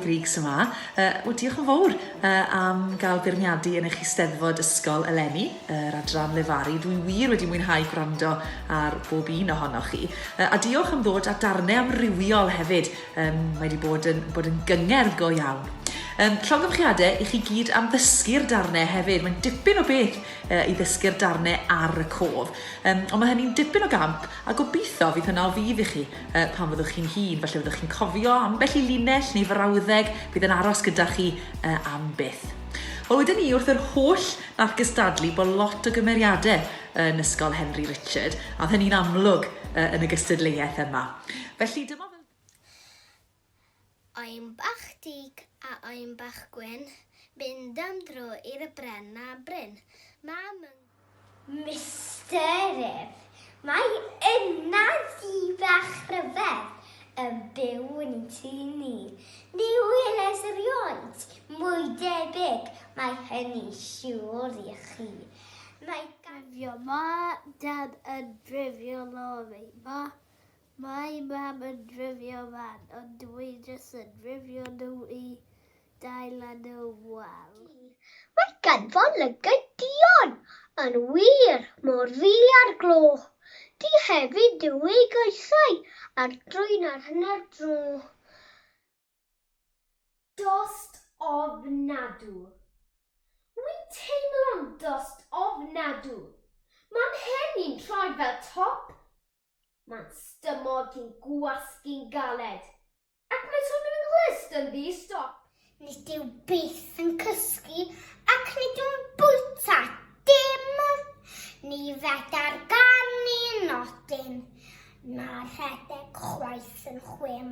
Greeks yma. Uh, wel, diolch yn fawr uh, am gael beirniadu yn eich eisteddfod ysgol eleni, yr adran lefaru. Dwi wir wedi mwynhau gwrando ar bob un ohonoch chi. Uh, a diolch am ddod â darnau amrywiol hefyd Um, mae wedi bod yn, bod yn gyngerdd go iawn. Um, llongyfchiadau i chi gyd am ddysgu'r darnau hefyd. Mae'n dipyn o beth uh, i ddysgu'r darnau ar y cof. Um, ond mae hynny'n dipyn o gamp a gobeithio fydd hynna o fydd i chi uh, pan fyddwch chi'n hun. Felly fyddwch chi'n cofio ambell i linell neu frawddeg bydd yn aros gyda chi uh, am byth. Wel, wedyn ni wrth yr holl nath gystadlu bod lot o gymeriadau yn Ysgol Henry Richard, a hynny'n amlwg uh, yn y gystadleuaeth yma. Felly dyma Oen bach dug a oen bach gwyn, mynd am dro i'r bren a bryn. Mam yn. Mistyrydd. Mae yna dŷ fach rhyfedd yn byw yn ein tŷ ni. Ni weles erioed mwy debyg, mae hynny siŵr i chi. Mae gan. Mae dad yn dreifio lori. Mae. Mae mam yn drifio fan ond dw i jyst yn rifio nhw i dail a nhw wal. Mae ganddo lygaid duon, yn wir, mor ddu a'r glo. Du hefyd yw ei goesau, a'r drwyn ar hanner dro. Dost ofnadw. Wi'n teimlo'n dost ofnadw. Mae mhen i'n troi fel top Mae'n stumog yn gwasgu'n galed, ac mae'n swnio'n nghlust yn ddi-stop. Nid yw byth yn cysgu ac nid yw'n bwyta dim. Ni fedar ganu yn nodyn, na rhedeg chwaith yn chwim.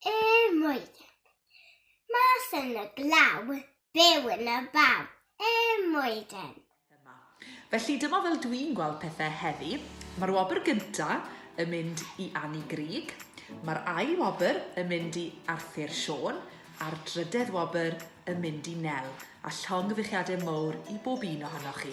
Y moed. Mas yn y glaw, byw yn y baw. Y moeden. Yma. Felly dyma fel dwi'n gweld pethau heddi. Mae'r wobr gynta yn mynd i Annie Grug, mae'r ail wobr yn mynd i Arthur Siôn, a'r drydedd wobr yn mynd i Nel, a llongyfichiadau mowr i bob un ohonoch chi.